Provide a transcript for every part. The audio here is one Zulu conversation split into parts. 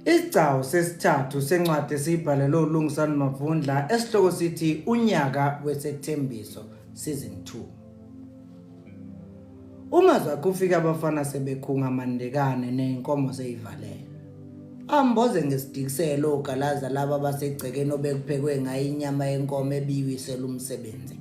Isigcawu sesithathu sencwadi esiyibhalelwe uLungisani Mavundla esihloko sithi Unyaka Wesethembiso Season 2. Uma zakufika abafana sebekhunga amandekane nezinkomo seyivalele. Amboze ngesidikiselo ogalaza laba basegcekeni obekuphekwe ngayo inyama yenkomo ebiwisela umsebenzi.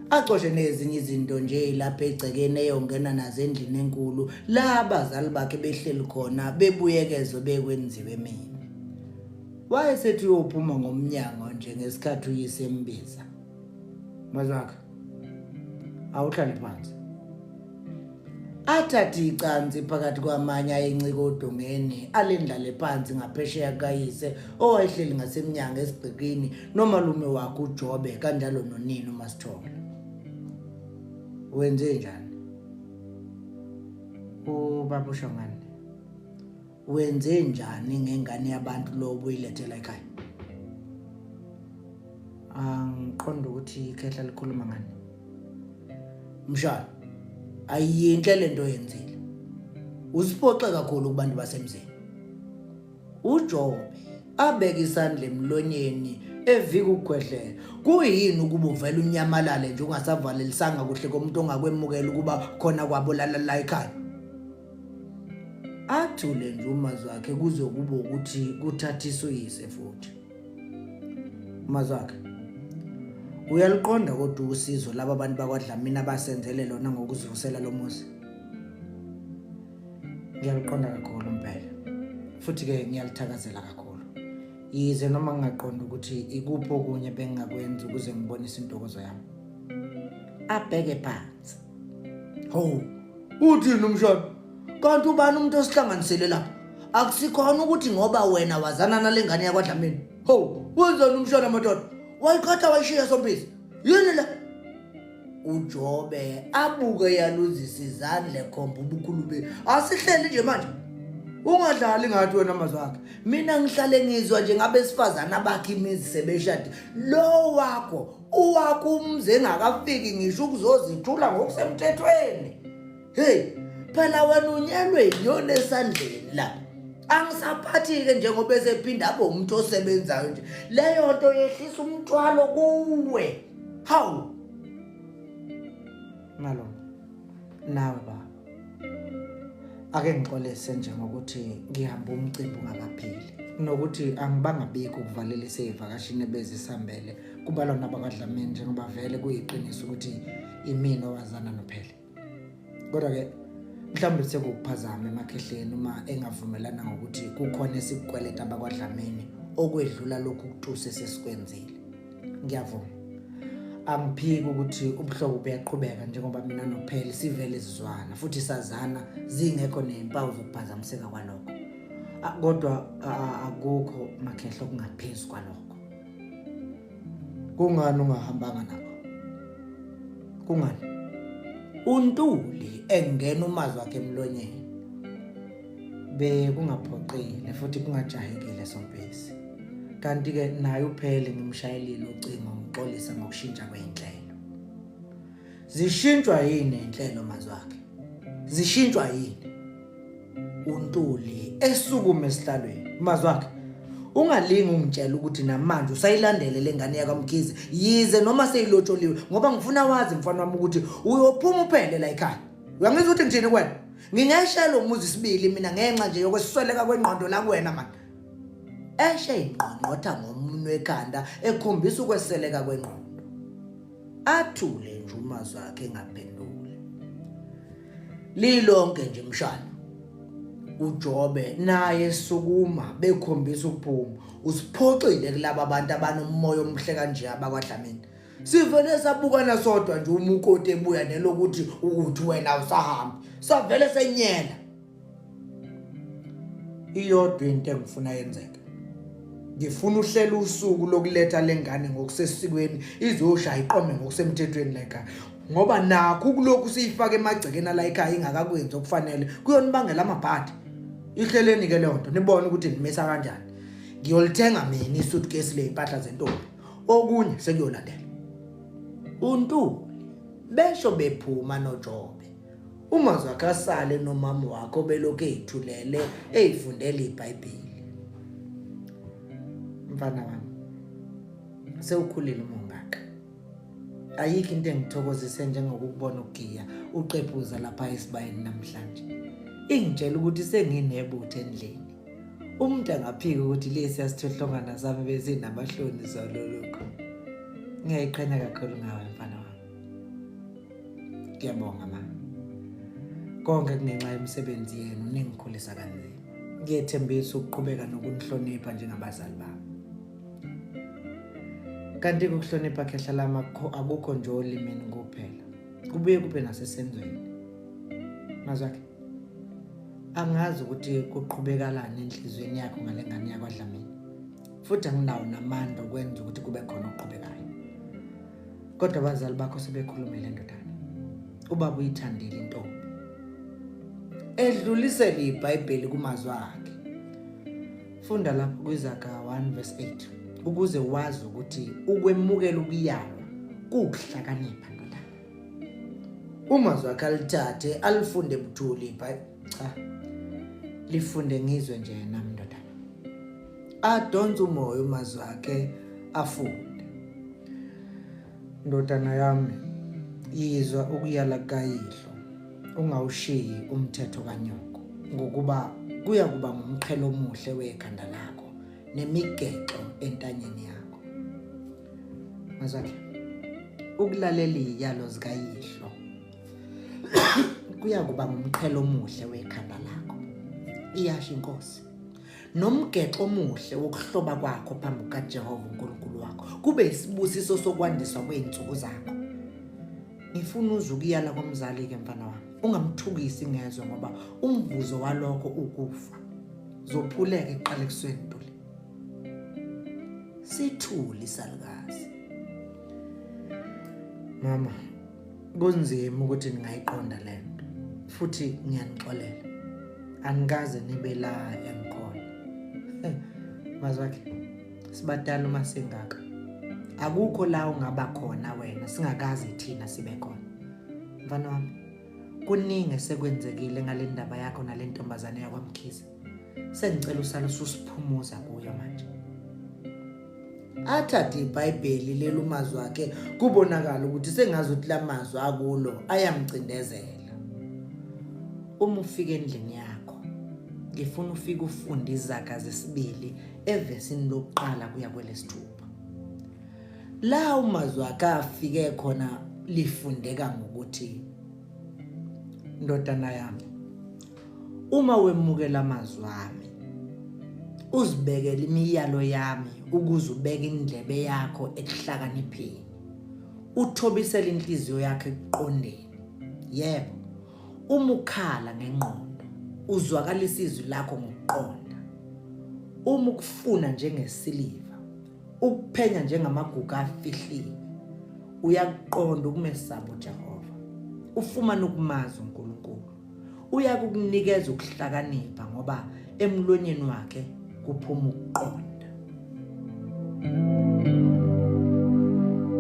acoshe nezinye izinto nje lapha egcekeni eyongena nazo endlini enkulu la abazali bakhe behleli khona bebuyekezo bekwenziwe mina wayesethi uyophuma ngomnyango nje ngesikhathi uyise embiza mazwakhe awuhlale phansi athathe icansi phakathi kwamanye ayencika odongeni alendlale phansi ngaphesheya kukayise owayehleli ngasemnyango esigqikini nomalume wakhe ujobe kanjalo nonini umasithola wenze njani ubaba ushongane wenze njani ngengane yabantu lo ubuyilethela ekhaya angiqonda ukuthi ikhehla likhuluma ngani mshana ayiyinhle lento yenzile usiphoxe kakhulu kubantu basemzini uJobe abeke isandla emlonyeni evika ukugwedlela kuyini ukuba uvela unyamalale nje ungasavalelisanga kuhle komuntu ongakwemukela ukuba khona kwabo lala la ekhaya athule nje umazwi wakhe kuzokuba ukuthi kuthathiswe uyise futhi umazwi wakhe uyaliqonda kodwa usizo laba bantu bakwadlamini abasenzele lona ngokuzivusela lo muzi ngiyaliqonda kakhulu impela futhi-ke ngiyalithakazela kakhulu yize noma ngingaqonda ukuthi ikuphi okunye bengingakwenza ukuze ngibonise intokozo yami abheke phansi hawu uthini umshado kanti ubani umuntu osihlanganisele lapha akusikhona ukuthi ngoba wena wazana nale ngane yakwadlamini hawu wenzani umshado madoda wayikhatha wayishiya sompisi yini le ujobe abuke yaluzisa izandla ekhomba ubukhulu be asihleli nje manje ungadlali ngathi wena mazwakhe mina ngihlale ngizwa nje ngabesifazana bakhe imizi sebeshade lo wakho uwakumzi engakafiki ngisho ukuzozithula ngokusemthethweni heyi phela wena unyelwe yinyoni esandleni la angisaphathi-ke njengoba esephinde abe umuntu osebenzayo nje leyo nto yehlisa umthwalo kuwe hawu nalo nawe baba ake ngixolise nje ngokuthi ngihamba umcimbi ungakapheli nokuthi angibangabikho ukuvalela iseyivakashini ebezisambele kubalwa nabakwadlamini njengoba vele kuyiqiniso ukuthi imina owazana nophele kodwa-ke mhlawumbe sekukuphazama emakhehleni uma engavumelana ngokuthi kukhona esikukweleta abakwadlamini okwedlula lokhu kutuse sesikwenzile ngiyavuma angiphiki ukuthi ubuhlobo buyaqhubeka njengoba mina nopheli sivele sizwana futhi sazana zingekho nezimpawu zokuphazamiseka kwalokho kodwa akukho makhehla okungaphezu kwalokho kungani ungahambanga nabo kungani untuli engena umazi wakhe emlonyeni bekungaphoqile futhi kungajahekile sompisi kanti-ke naye uphele ngimshayelile ucingo ngixolisa ngokushintsha kwey'nhlelo zishintshwa yini iy'nhlelo mazwakhe zishintshwa yini untuli esukume esihlalweni mazwakhe ungalingi ungitshela ukuthi namanje usayilandele le ngane yakamkhize yize noma seyilotsholiwe ngoba ngifuna wazi mfana wami ukuthi uyophuma uphele la ekhaya uyangizwa ukuthi ngithini kwena ngingeshaya lo muzi sibili mina ngenxa nje yokwesweleka kwengqondo la kuwena mani eshe ingqongqotha ngomunwe ekhanda ekhombisa ukweseleka kwengqondo athule nje uma zakhe ngaphendule lilonke nje mshana uJobe naye sukuma bekhombisa ukuphuma usiphoxile kulabo abantu abanomoya omhle kanje abakwadlamini sivele sabukana sodwa nje uma ukoti ebuya nelokuthi ukuthi wena usahambi savele senyela iyodwa into engifuna yenzeke ngifuna uhlela usuku lokuletha lengane ngokusesikweni izoshaya iqome ngokusemthethweni leka ngoba nakho kulokhu siyifaka emagcekeni la ekhaya ingakakwenzi okufanele kuyonibangela amabhadi ihleleni ke leyo nto nibone ukuthi nimisa kanjani ngiyolithenga mina isuitcase le impahla zentombi okunye sekuyolandela uNtuli besho bephuma noJobe uma zakasale nomama wakho belokhu ethulele eyifundela iBhayibheli mfana wami sewukhulile umongaka ayikho into engithokozise njengokukubona ugiya uqephuza lapha esibayeni namhlanje ingitshela ukuthi senginebutho endlini umuntu angaphika ukuthi lesi asithohlongana zami bezinamahloni zalolokho ngiyayiqhenya kakhulu ngawe mfana wami ngiyabonga ma konke kungenxa yemisebenzi yenu ningikhulisa kanzima ngiyethembisa ukuqhubeka nokunihlonipha njengabazali bami kanti ukuhlonipha khehla lami akukho nje olimini kuphela kubuye kube nasesenzweni mazwakhe angazi ukuthi kuqhubekalani enhliziyweni yakho ngale ngane yakwadlamini futhi anginawo namandla okwenza ukuthi kube khona okuqhubekayo kodwa abazali bakho sebekhulumile ndodana ubaba uyithandile intombi edlulisele ibhayibheli kumazwi akhe funda lapho kwizaga 1 verse 8 ukuze wazi ukuthi ukwemukela ukuyalwa kukuhlakanipha Uma zwakhe alithathe alifunde buthuli ibhayi cha lifunde ngizwe nje yena mndodana adonse umoya uma zwakhe afunde ndodana yami yizwa ukuyala kayihlo ungawushiyi umthetho kanyoko ngokuba kuya kuba ngumqhelo omuhle wekhanda lakho nemigexo entanyeni yakho Mazwakhe. Ukulalela iyalo zikayihlo. Kuya kuba ngumqhelo omuhle wekhanda lakho. Iyasho inkosi. Nomgexo omuhle wokuhloba kwakho phambi kaJehova uNkulunkulu wakho. Kube isibusiso sokwandiswa kweinsuku zakho. Ngifuna uze ukuyala komzali ke mfana wami. Ungamthukisi ngezwe ngoba umvuzo walokho ukufa. Zophuleke iqalekisweni. sithule isalukazi mama kunzima ukuthi ningayiqonda lento futhi ngiyanixolela anikaze nibe la engikhona mazwakhe sibadala uma singaka akukho la ungaba khona wena singakaze thina sibe khona mfana wami kuningi sekwenzekile ngale ndaba yakho nale ntombazane yakwamkhize sengicela usale ususiphumuza kuyo manje athathe ibhayibheli lelumazwi akhe kubonakala ukuthi sengazi ukuthi lamazwi akulo ayamcindezela uma ufika endlini yakho ngifuna ufike ufunde izaga zesibili evesini lokuqala kuya kwelesithupha la umazwi akhe afike khona lifundeka ngokuthi ndodana yami Uma wemukela amazwi ami uzibekele imiyalo yami ukuze ubeke indlebe yakho ekuhlakanipheni uthobisele inhliziyo yakhe ekuqondeni yebo uma ukhala ngengqondo uzwakalisa izwi lakho ngokuqonda uma ukufuna njengesiliva ukuphenya njengamaguga afihliwe uyakuqonda ukumesaba uJehova ufumana ukumazi uNkulunkulu uyakukunikeza ukuhlakanipha ngoba emlonyeni wakhe kuphuma ukuqonda